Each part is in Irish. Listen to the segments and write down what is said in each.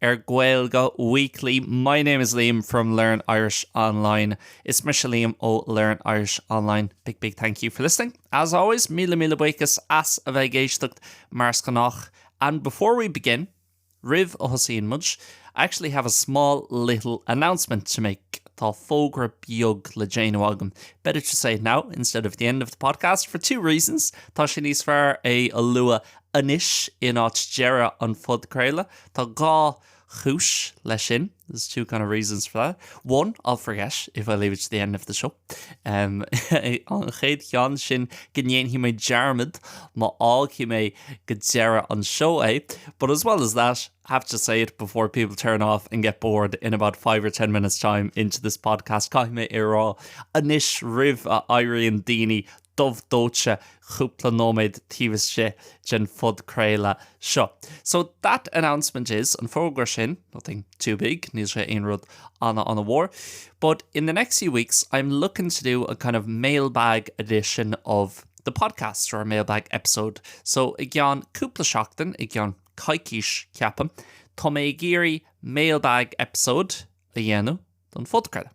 Ar Gaeilge Weekly, My name is Liam from Learn Irish Online. Is mise Liam ó Learn Irish Online. Big, big thank you for listening. As always, míle míle buíochas as a bheith ag éisteacht mar is gnách. And before we begin, roimh a thosaíonn muid, I actually have a small little announcement to make. Tá fógra beag le déanamh agam. Better to say it now instead of the end of the podcast for two reasons. Tá sé níos fearr é a lua anois in áit deireadh an phodchraoladh. Tá dhá chúis leis sin, there's two kind of reasons for that. One, I'll forget if I leave it to the end of the show. Um, an chéad cheann sin go ndéanfaidh mé dearmad má fhágfaidh mé go deireadh an show é. But as well as that, I have to say it before people turn off and get bored in about 5 or 10 minutes time into this podcast. Caithfidh mé é a rá anois roimh a éiríonn daoine dubh dóite cúpla nóiméad taobh istigh den phodchraoladh seo. So, that announcement is, an fógra sin, nothing too big, níl sé aon rud ana-ana-mhór, but in the next few weeks I'm looking to do a kind of mailbag edition of the podcast, or a mailbag episode. So, i gceann cúpla seachtain, i gceann coicís, ceapaim, tá mé ag iarraidh mailbag episode a dhéanamh don phodchraoladh.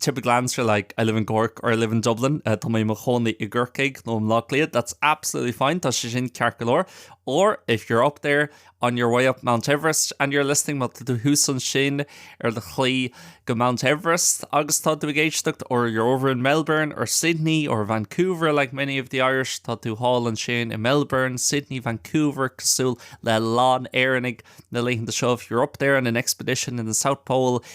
typical answer like I live in Cork or I live in Dublin, tá mé i mo chónaí i gCorcaigh nó i mBleá Cliath, that's absolutely fine, tá sé sin ceart go leor. Or if you're up there on your way up Mount Everest and you're listening, má tá tú thuas ansin ar do shlí go Mount Everest agus tá tú ag éisteacht, or you're over in Melbourne or Sydney or Vancouver like many of the Irish, tá tú thall ansin i Melbourne, Sydney, Vancouver, cosúil le a lán Éireannaigh na laethanta seo, if you're up there on an expedition in the South Pole,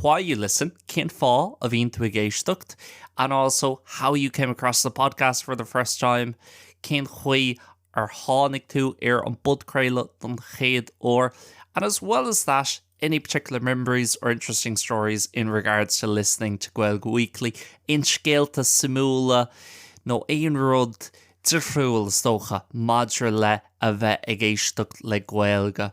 why you listen, cén fáth a bhíonn tú ag éisteacht, and also how you came across the podcast for the first time, cén chaoi ar tháinig tú ar an bpodchraoladh don chéad uair, and as well as that, any particular memories or interesting stories in regards to listening to Gaeilge Weekly, aon scéalta suimiúla nó aon rud difriúil, is dócha, maidir le a bheith ag éisteacht le Gaeilge.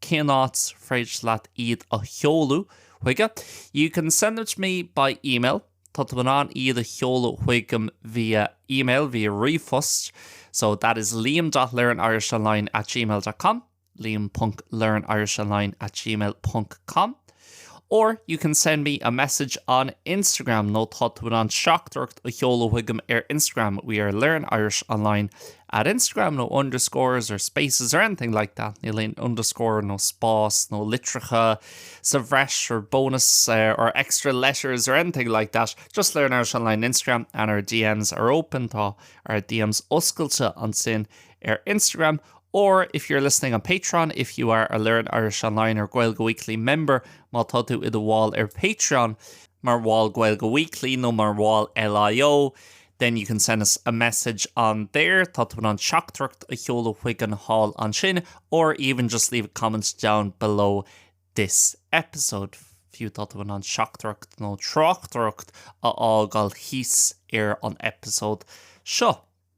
cén áit ar féidir leat iad a sheoladh chuige? You can send them to me by email, tá tú in ann iad a sheoladh chugaim via email, via ríomhphost, so that is liam.learnirishonline at gmail dot com, liam ponc learnirishonline at gmail ponc com. Or, you can send me a message on Instagram nó tá tú in ann teachtaireacht a sheoladh chugaim ar Instagram, we are Learn Irish Online at Instagram, no underscores or spaces or anything like that, níl aon underscore nó spás nó litreacha sa bhreis or bonus uh, or extra letters or anything like that, just Learn Irish Online Instagram and our DMs are open, tá ár DMs oscailte ansin ar Instagram, Or, if you're listening on Patreon, if you are a Learn Irish Online or Gaeilge Weekly member, má tá tú i do bhall ar Patreon, mar bhall Gaeilge Weekly nó mar bhall LIO, then you can send us a message on there, tá tú in ann teachtaireacht a sheoladh chugainn thall ansin, or even just leave a comment down below this episode, fiú tá tú in ann teachtaireacht nó tráchtaireacht a fhágáil thíos ar an eipeasóid seo.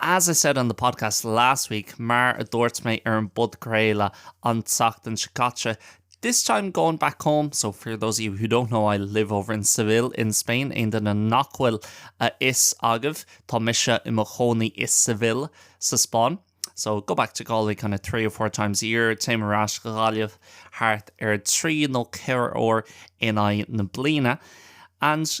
As I said on the podcast last week, mar a dúirt mé ar an bpodchraoladh an tseachtain seo caite, this time going back home, so for those of you who don't know, I live over in Seville in Spain, aon duine nach bhfuil a fhios agaibh, tá mise i mo chónaí i Seville sa Spáinn. So go back to Galway kind of three or four times a year, téim ar ais go Gaillimh thart ar trí nó ceithre uair in aghaidh na bliana. And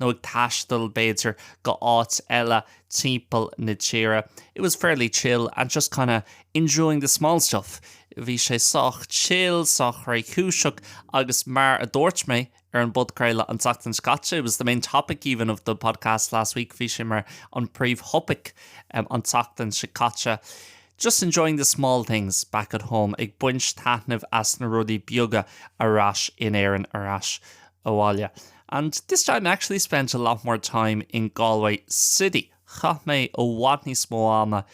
nó ag taisteal, b'fhéidir, go h-áit eile timpeall na tíre, it was fairly chill and just kinda enjoying the small stuff, bhí sé sách chill, sách réchúiseach, agus mar a dúirt mé ar an bpodchraoladh an tseachtain seo caite, it was the main topic even of the podcast last week, bhí sé mar an príomhthopaic an tseachtain seo caite, just enjoying the small things back at home, ag baint taitnimh as na rudaí beaga ar ais in Éirinn, ar ais abhaile. And this time I actually spent a lot more time in Galway City, chaith mé i bhfad níos mó ama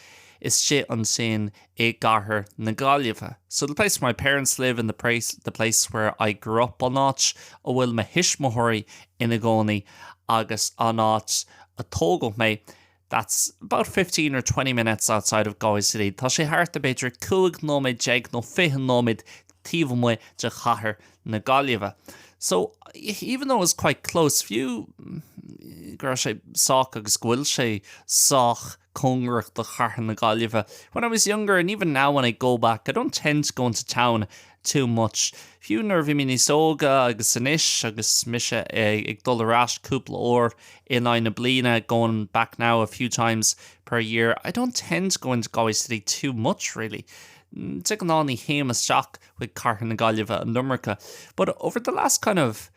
istigh ansin i gcathair na Gaillimhe. So the place where my parents live and the place where I grew up, an áit a bhfuil mo thuismitheoirí ina gcónaí agus an áit a tógadh mé, That's about fifteen or twenty minutes outside of Galway City, tá sé thart ar b'fhéidir cúig nóiméad déag nó fiche nóiméad taobh amuigh de chathair na Gaillimhe. So, even though it was quite close, fiú go raibh sé sách agus go bhfuil sé sách cóngarach do chathair na Gaillimhe, when I was younger and even now when I go back, I don't tend to go into town too much. Fiú nuair a bhí mé níos óige agus anois agus mise ag dul ar ais cúpla uair in aghaidh na bliana, going back now a few times per year, I don't tend to go into Galway City too much really. De ghnáth ní théim isteach chuig cathair na Gaillimhe an iomarca, but over the last kind of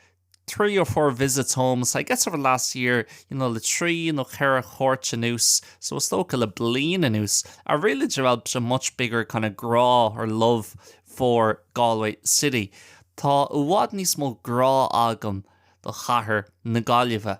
three or four visits home, so I guess over the last year, you know, le trí nó ceithre chuairt anuas, so is dócha le bliain anuas, I've really developed a much bigger kind of grá or love for Galway city. Tá i bhfad níos mó grá agam do chathair na Gaillimhe.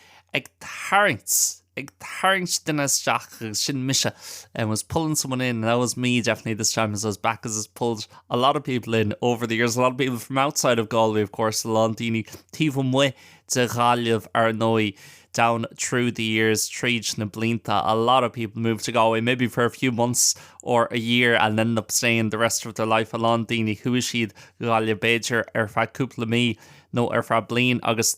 ag tarraingt, ag tarraingt duine isteach agus sin mise I was pulling someone in and that was me definitely this time as I was back as has pulled a lot of people in over the years, a lot of people from outside of Galway of course, a lot daoine taobh amuigh de Ghaillimh ar ndóigh down through the years, tríd na blianta, a lot of people moved to Galway maybe for a few months or a year and ended up staying the rest of their life, a lot daoine chuaigh siad Ghaillimh b'fhéidir ar feadh cúpla mí nó ar feadh bliain agus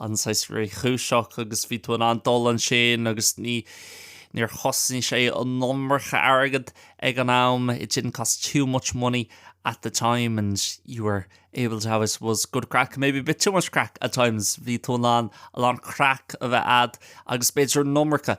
an saghas réchúiseach agus bhí tú in ann dul ansin agus níor chosnaigh sé an iomarca airgead ag an am, it didn't cost too much money at the time and you were able to have, I suppose, good craic, maybe a bit too much craic at times, bhí tú in ann a lán craic a bheith a'd agus b'fhéidir an iomarca.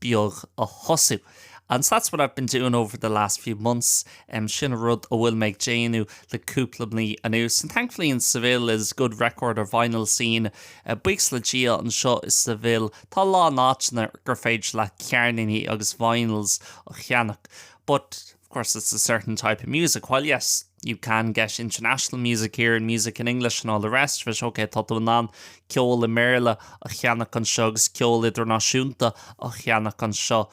beag a thosú And that's what I've been doing over the last few months, sin an rud a bhfuil mé ag déanamh le cúpla mí anuas. And thankfully in Seville there's good record or vinyl scene, buíochas le Dia anseo i Seville tá a lán áiteanna gur féidir leat ceirníní agus vinyls a cheannach. But. Of course it's a certain type of music, while yes, you can get international music here and music in English and all the rest of it, ok, tá tú in ann ceol i mBéarla a cheannach anseo agus ceol idirnáisiúnta a cheannach anseo,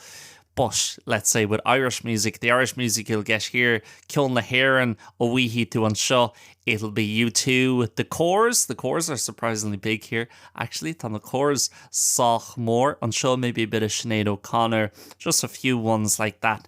but let's say with Irish music, the Irish music you'll get here, ceol na hÉireann a bhfaighidh tú anseo, it'll be U2, the Corrs, the Corrs are surprisingly big here, actually, tá na Corrs sách mór anseo, maybe a bit of Sinead O'Connor, just a few ones like that.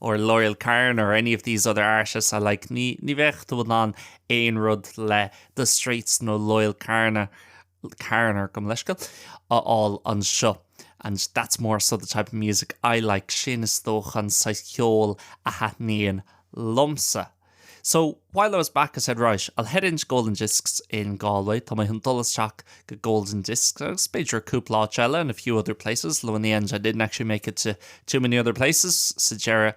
or Loyle Carner any of these other artists I like ní ní bheadh tú in ann aon rud le The Streets nó Loyle Carner gabh mo leithscéal a fháil anseo and that's more so the type of music I like sin is dócha an saghas ceoil a thaitníonn liomsa. So, while I was back I said right, I'll head into Golden Discs in Galway, tá mé chun dul isteach go Golden Discs agus b'fhéidir cúpla áit eile and a few other places, although in the end I didn't actually make it to too many other places, sa deireadh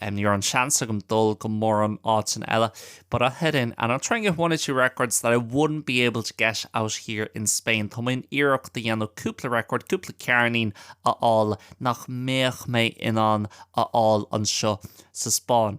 um, ní raibh an seans agam dul go mórán áiteanna eile, but I'll head in and I'll try and get one or two records that I wouldn't be able to get out here in Spain. Tá mé chun iarracht a dhéanamh cúpla record, cúpla ceirnín a fháil nach mbeadh mé in ann a fháil anseo sa Spáinn.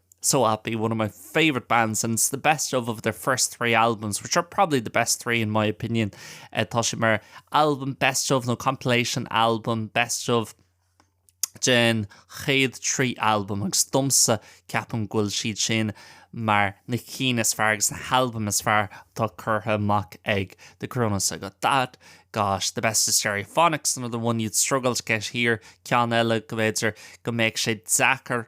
so happy, one of my favourite bands and it's the best of of their first three albums which are probably the best three in my opinion eh, tá sé mar album best of nó compilation album best of den chéad trí album agus domsa ceapaim go bhfuil siad sin mar na cinn is fearr agus na halbaim is fearr atá curtha amach ag The Coronas so I got that, got the best of Stereophonics another one you'd struggle to get here ceann eile go mb'fhéidir go mbeadh sé deacair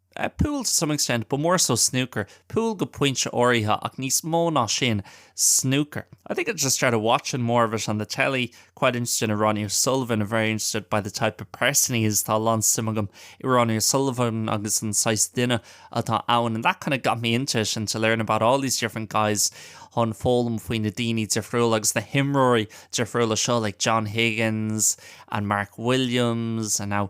Pool to some extent, but more so snooker. Pool go pointe áirithe, ach níos mó ná sin, snúcar. I think I just started watching more of it on the telly. Quite interested in Ronnie O'Sullivan, very interested by the type of person he is. Tá a lán suim agam i Ronnie O'Sullivan agus an saghas duine atá ann. And that kind of got me into it and to learn about all these different guys. Táim foghlaim faoi na daoine difriúla agus na himreoirí difriúla seo, like John Higgins and Mark Williams and now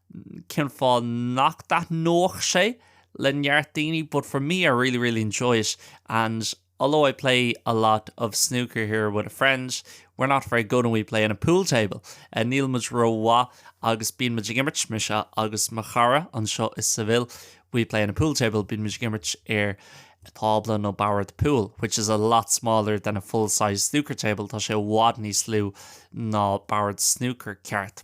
cén fáth nach dtaitneodh sé le neart daoine but for me I really really enjoy it and although I play a lot of snooker here with a friend we're not very good and we play on a pool table níl muid rómhaith agus bíonn muid ag imirt, mise agus mo chara, anseo i Seville we play on a pool table bíonn muid ag imirt ar tábla nó bord púil which is a lot smaller than a full sized snooker table tá sé i bhfad níos lú ná bord snúcair ceart.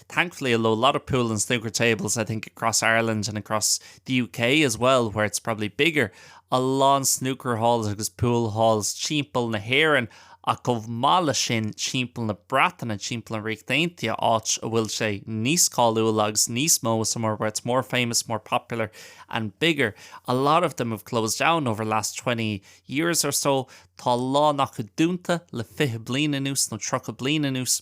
thankfully although a lot of pool and snooker tables I think across Ireland and across the UK as well where it's probably bigger a lán snooker halls agus pool halls timpeall na hÉireann ach chomh maith leis sin timpeall na Breataine timpeall an Ríocht Aontaithe áit a bhfuil sé níos cáiliúla agus níos mó somewhere where it's more famous more popular and bigger a lot of them have closed down over the last 20 years or so tá a lán acu dúnta le 20 bliain anuas nó 30 bliain anuas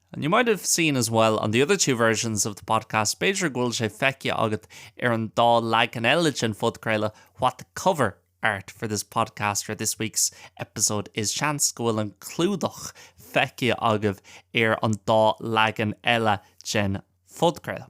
And you might have seen as well on the other two versions of the podcast, b'fhéidir go bhfuil sé feicthe agat ar an dá leagan eile den phodchraoladh, what the cover art for this podcast or this week's episode is, seans go bhfuil an clúdach feicthe agaibh ar an dá leagan eile den phodchraoladh.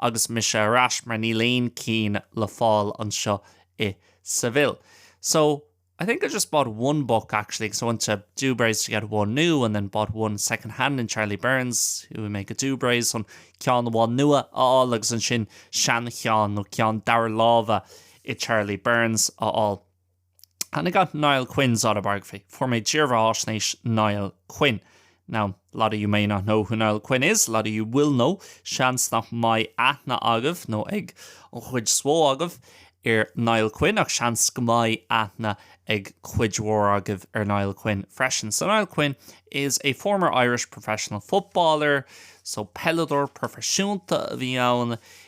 Agus mise ar ais, mar níl aon ceann le fáil anseo i Seville. So, I think I just bought one book, actually, because I went to Dubray's to get one new and then bought one second hand in Charlie Byrne's, chuaigh mé go Dubray's, chun ceann amháin nua a fháil agus ansin seancheann nó ceann dara láimhe i Charlie Byrne's a fháil. And I got Niall Quinn's autobiography. Fuair mé dírbheatháisnéis Niall Quinn. Now, a lot of you may not know who Niall Quinn is, a lot of you will know, seans nach mbeidh aithne agaibh, nó ag an chuid is mhó agaibh, ar Niall Quinn, ach seans go mbeidh aithne ag cuid mhór agaibh ar Niall Quinn freisin. So Niall Quinn is a former Irish professional footballer, so peileadóir proifisiúnta a bhí ann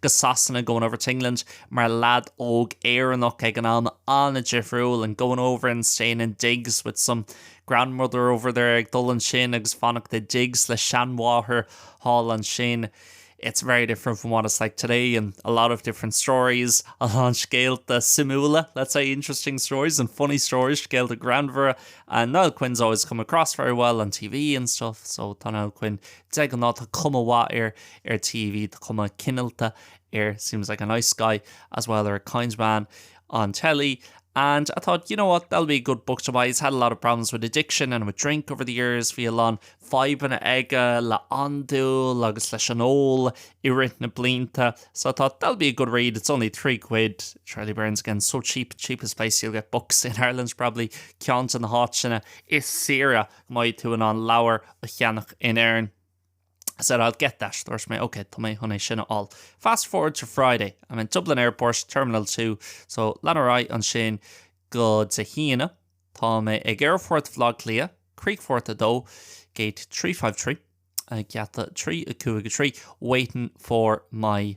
go Sasana, Going over to England, mar leaid óg Éireannach ag an am, an-difriúil, and going over and staying in digs with some grandmother over there, ag dul ansin agus fanacht i digs le seanmháthair thall ansin, it's very different from what it's like today and a lot of different stories, a lán scéalta suimiúla, let's say, interesting stories and funny stories, scéalta greannmhara, and Niall Quinn's always come across very well on TV and stuff, so tá Niall Quinn de ghnáth, tá cuma mhaith air ar TV, tá cuma cineálta air, seems like a nice guy as well or a kind man on telly and I thought, you know what, that'll be a good book to buy. He's had a lot of problems with addiction and with drink over the years. Bhí a lán fadhbanna aige le andúil agus leis an ól i rith na blianta. So I thought, that'll be a good read. It's only three quid. Charlie Byrne's again, so cheap, cheapest place you'll get books in Ireland probably. Ceann de na háiteanna is saoire go mbeidh tú in ann leabhar a cheannach in Éirinn. I said, I'll get that. Dúirt mé, OK, tá mé chun é sin a fháil. Fast forward to Friday. I'm in Dublin Airport, Terminal 2. So, lean ar aghaidh ansin go Dé hAoine. Tá mé ag Aerfort Bhleá Cliath, Críochfort 2, Gate 353, uh, geata 353, waiting for my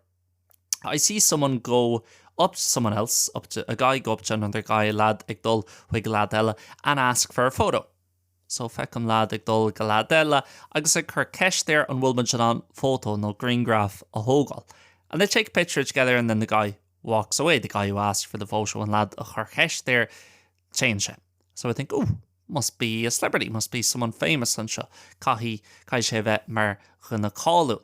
I see someone go up to someone else, up to, a guy go up to another guy, leaid ag dul chuig leaid eile, and ask for a photo. So feicim leaid ag dul go leaid eile agus ag cur ceist air an bhfuil muid in ann photo nó grianghraf a thógáil. And they take a picture together and then the guy walks away, the guy who asked for the photo, an leaid a chuir ceist air, téann sé. So I think, ooh, must be a celebrity, must be someone famous anseo. Caithfidh, caithfidh sé bheith mar dhuine cáiliúil.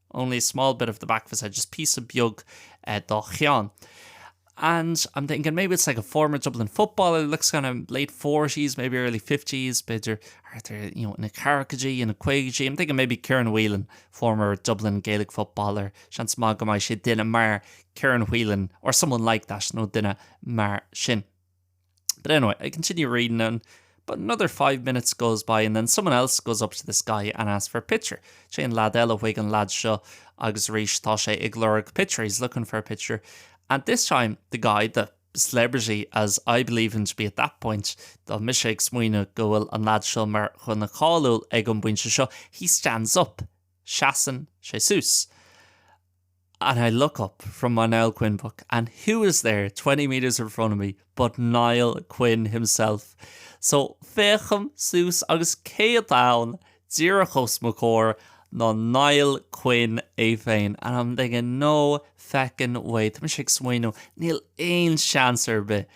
Only a small bit of the back of his head, just píosa beag dá cheann. And I'm thinking maybe it's like a former Dublin footballer, looks kind of late forties, maybe early fifties, b'fhéidir thart ar, you know, ina ceathraicaidí, ina caogaidí, I'm thinking maybe Kieran Whelan, former Dublin Gaelic footballer, seans maith go mbeidh sé duine mar Kieran Whelan or someone like that, nó duine mar sin. But anyway, I continue reading and, but another five minutes goes by and then someone else goes up to this guy and asks for a picture. Téann leaid eile chuig an leaid seo agus arís tá sé ag lorg picture, he's looking for a picture, and this time the guy, the celebrity as I believe him to be at that point, tá mise ag smaoineamh go bhfuil an leaid seo mar dhuine cáiliúil ag an bpointe seo, he stands up, seasann sé suas. and I look up from my Niall Quinn book and who is there twenty metres in front of me but Niall Quinn himself. So féachaim suas agus cé atá ann díreach os mo chomhair ná Niall Quinn é féin and I'm thinking no feckin way. Tá mise ag smaoineamh níl aon seans ar bith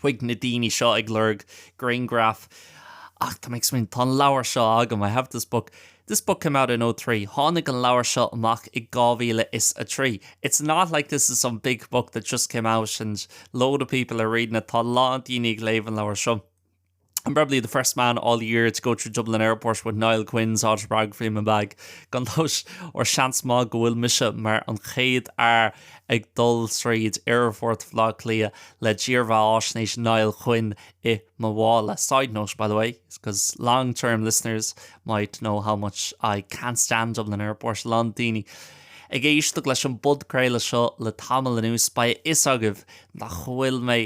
chuig na daoine seo ag lorg grianghraf ach tá mé ag smaoineamh, tá an leabhar seo agam, I have this book, this book came out in oh three, tháinig an leabhar seo amach i dhá mhíle is a trí, it's not like this is some big book that just came out and load of people are reading it, tá a lán daoine ag léamh an leabhair seo. I'm probably the first man all year to go through Dublin Airport with Niall Quinn's autobiography in my bag, gan dabht, nó seans maith go bhfuil mise mar an chéad fhear ag dul tríd Aerfort Bhaile Átha Cliath le dírbheatháisnéis Niall Quinn i mo mhála. Side note, by the way, because long term listeners might know how much I can't stand Dublin Airport, a lán daoine ag éisteacht leis an bpodchraoladh seo le tamall anuas, beidh a fhios agaibh nach bhfuil mé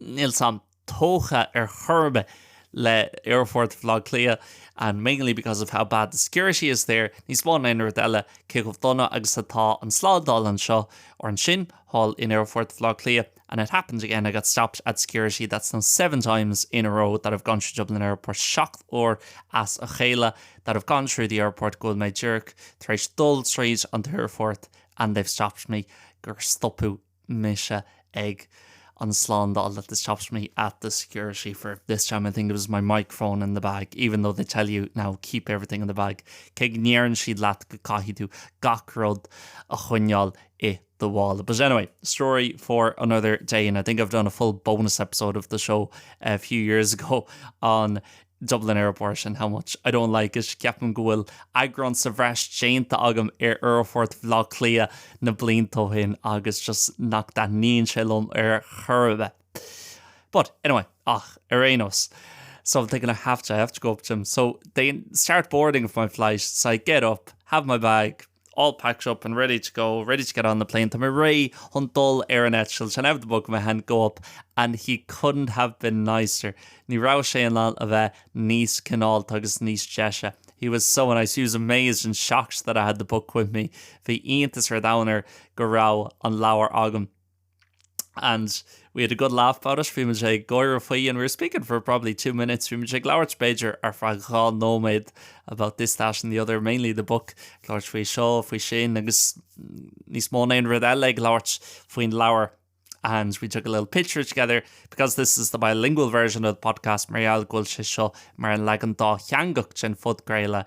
Nílim tógtha ar chor ar bith le Aerfort Bhaile Átha Cliath, and mainly because of how bad the security is there, níos mó ná aon rud eile, cé chomh dona agus atá an tslándáil anseo, or ansin, thall in Aerfort Bhaile Átha Cliath, and it happened again, I got stopped at security, that's now seven times in a row that I've gone through Dublin Airport, seacht uair as a chéile that I've gone through the airport go bhfuil mé díreach tar éis dul tríd an t-aerfort and they've stopped me, gur stopadh mise ag an slándáil that this chops me at the security for this time I think it was my microphone in the bag even though they tell you now keep everything in the bag cé go ndéarann siad leat go caithfidh tú gach rud a choinneáil i do mhála but anyway story for another day and I think I've done a full bonus episode of the show a few years ago on Dublin Airport and how much I don't like it, Ceapaim go bhfuil eagrán sa bhreis déanta agam ar Aerfort Bhaile Átha Cliath na blianta ó shin agus just nach dtaitníonn sé liom ar chor ar bith. But, anyway, ach, ar aon nós. So I'm thinking I have to, I have to go up to him. So they start boarding for my flight. So I get up, have my bag. all packed up and ready to go, ready to get on the plane tá mé réidh chun dul ar an eitleán have the book in my hand, go up and he couldn't have been nicer ní raibh sé in ann a bheith níos cineálta agus níos deise he was so nice, he was amazed and shocked that I had the book with me bhí iontas an domhain air go raibh an leabhar agam. and we had a good laugh about it, bhí muid ag gáire faoi and we were speaking for probably two minutes, bhí muid ag labhairt b'fhéidir ar feadh dhá nóiméad about this, that and the other, mainly the book, ag labhairt faoi seo, faoi sin agus níos mó ná aon rud eile, ag labhairt faoin leabhar and we took a little picture together, because this is the bilingual version of the podcast mar gheall go bhfuil sé seo mar an leagan dátheangach den phodchraoladh,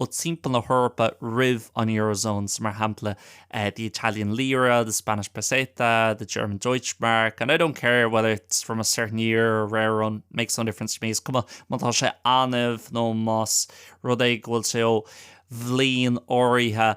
ó timpeall na hEorpa roimh an Eurozone, so mar shampla the Italian lira, the Spanish peseta, the German Deutschmark, and I don't care whether it's from a certain year or rare run, makes no difference to me, is cuma má tá sé annamh nó más rud é go bhfuil sé ó bhliain áirithe.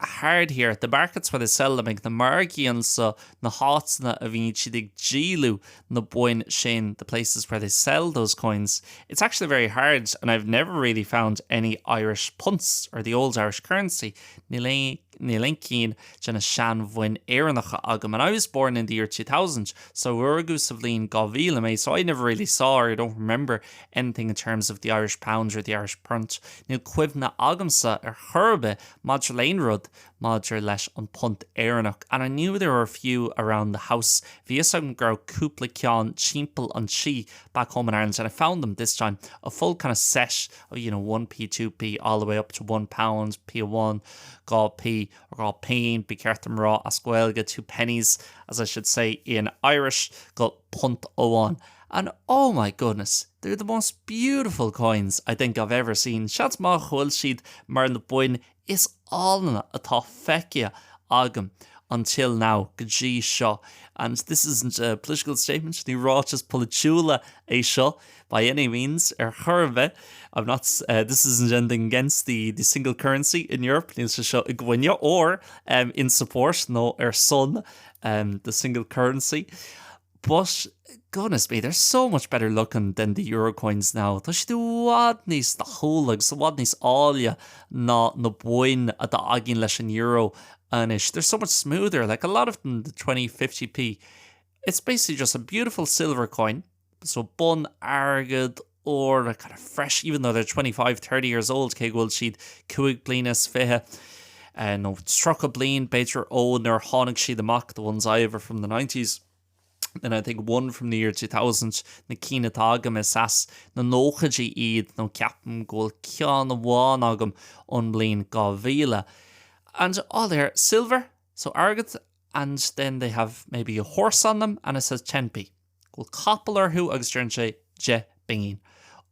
hard here at the markets where they sell them ag na margaí anseo na háiteanna a bhíonn siad ag díoladh na boinn sin the places where they sell those coins it's actually very hard and I've never really found any Irish punts or the old Irish currency níl aon cheann de na seanbhoinn Éireannacha agam and I was born in the year 2000 so rugadh sa mbliain 2000 mé so I never really saw or I don't remember anything in terms of the Irish pound or the Irish punt níl cuimhne agamsa ar chor ar bith Maidir le haon rud maidir leis an bpunt Éireannach, and I knew there were a few around the House, bhí fhios agam go raibh cúpla ceann timpeall an tí, back home in Ireland, and I found them, this time, a full kind of set of, you know, 1p, 2p, all the way up to one pound, P1, 2p, dhá phínn, ba cheart dom a rá as Gaeilge, two pennies, as I should say in Irish, go punt amháin, and oh my goodness! They're the most beautiful coins, I think, I've ever seen, seans maith go bhfuil siad mar na boinn is áille atá feicthe agam, until now, go dtí seo. And this isn't a political statement, ní ráiteas polaitiúil é seo, by any means, ar chor ar bith, I'm not, this isn't anything against the single currency in Europe, níl sé seo i gcoinne, or in support, nó ar son, the single currency, But, goodness me, they're so much better looking than the Euro coins now. Tá siad i bhfad níos dathúla agus i bhfad níos áille ná na boinn atá againn leis an Euro anois. They're so much smoother, like a lot of them, the twenty, fifty P. It's basically just a beautiful silver coin, so bonn airgid, úr, a kind of fresh, even though they're twenty five, thirty years old, cé go bhfuil siad cúig bliana is fiche nó tríocha bliain, b'fhéidir, ó nuair a tháinig siad amach, the ones I have are from the nineties, and I think one from the year two thousand, na cinn atá agam is as na nóchaidí iad nó ceapaim go bhfuil ceann amháin agam ón mbliain dhá mhíle. And all they're silver, so airgead, and then they have maybe a horse on them and it says ten P. bhfuil capall orthu agus deireann sé deich bpingin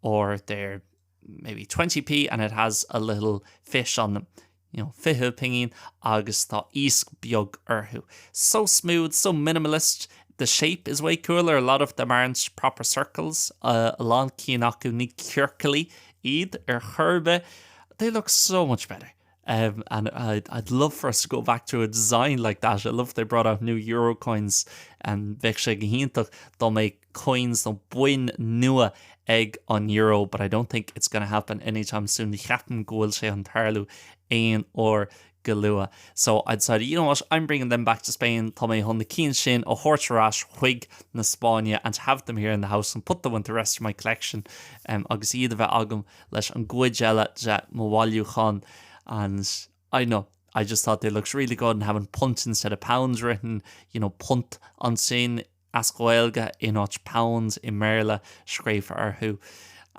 or they're maybe twenty P and it has a little fish on them you know fiche pingin agus tá iasc beag orthu. So smooth, so minimalist, the shape is way cooler, a lot of them aren't proper circles, a lán cinn acu ní ciorcallaí iad ar chor ar bith, they look so much better. And I'd love for us to go back to a design like that. I love they brought out new euro coins and bheadh sé go hiontach dá mbeadh coins nó boinn nua ag an euro, but I don't think it's going to happen anytime soon. Ní cheapaim go bhfuil sé chun tarlú aon uair go luath. So I decided, you know what, I'm bringing them back to Spain. Tá mé chun na cinn sin a thabhairt ar ais chuig na Spáinne and have them here in the house and put them with the rest of my collection um, agus iad a bheith agam leis an gcuid eile de mo bhailiúchán and I dunno, I just thought they looked really good and having punt instead of pounds written, you know punt ansin as Gaeilge in áit pounds i mBéarla scríofa orthu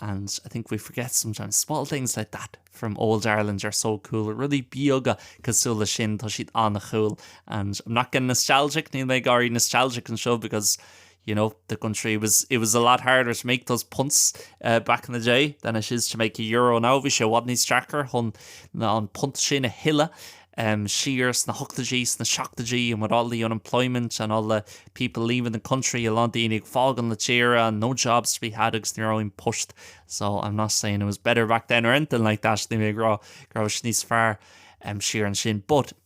and I think we forget sometimes small things like that from old Ireland are so cool, rudaí beaga cosúil leis sin, tá siad an-cool and I'm not getting nostalgic, níl mé ag éirí nostalgic anseo because. You know, the country was, it was a lot harder to make those punts back in the day than it is to make a euro now, bhí sé i bhfad níos deacair chun an punt sin a thuilleadh siar sna hochtaidí, sna seachtaidí and with all the unemployment and all the people leaving the country, a lán daoine ag fágáil na tíre and no jobs to be had agus ní raibh aon poist. So, I'm not saying it was better back then or anything like that, ní mé ag rá go raibh sé níos fearr siar ansin, but.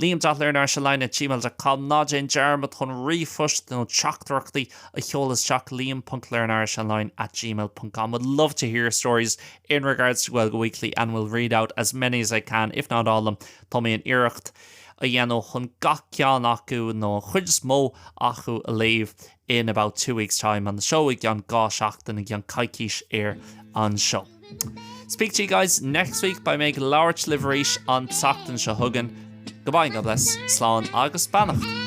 Liam dot learn Irish online at Gmail dot com Ná déan dearmad chun ríomhphost nó teachtaireachtaí a sheoladh isteach, liam ponc learnirishonline at gmail dot com Would love to hear your stories in regards to Gaeilge Weekly and we'll read out as many as I can, if not all of them Tá mé chun iarracht a dhéanamh chun gach ceann acu, nó an chuid is mó acu, a léamh. in about two weeks time on the show i gceann dhá seachtain i gceann coicís ar an seó. Speak to you guys next week beidh mé ag labhairt libh arís an tseachtain seo chugainn. Goodbye and God bless. Slán agus beannacht.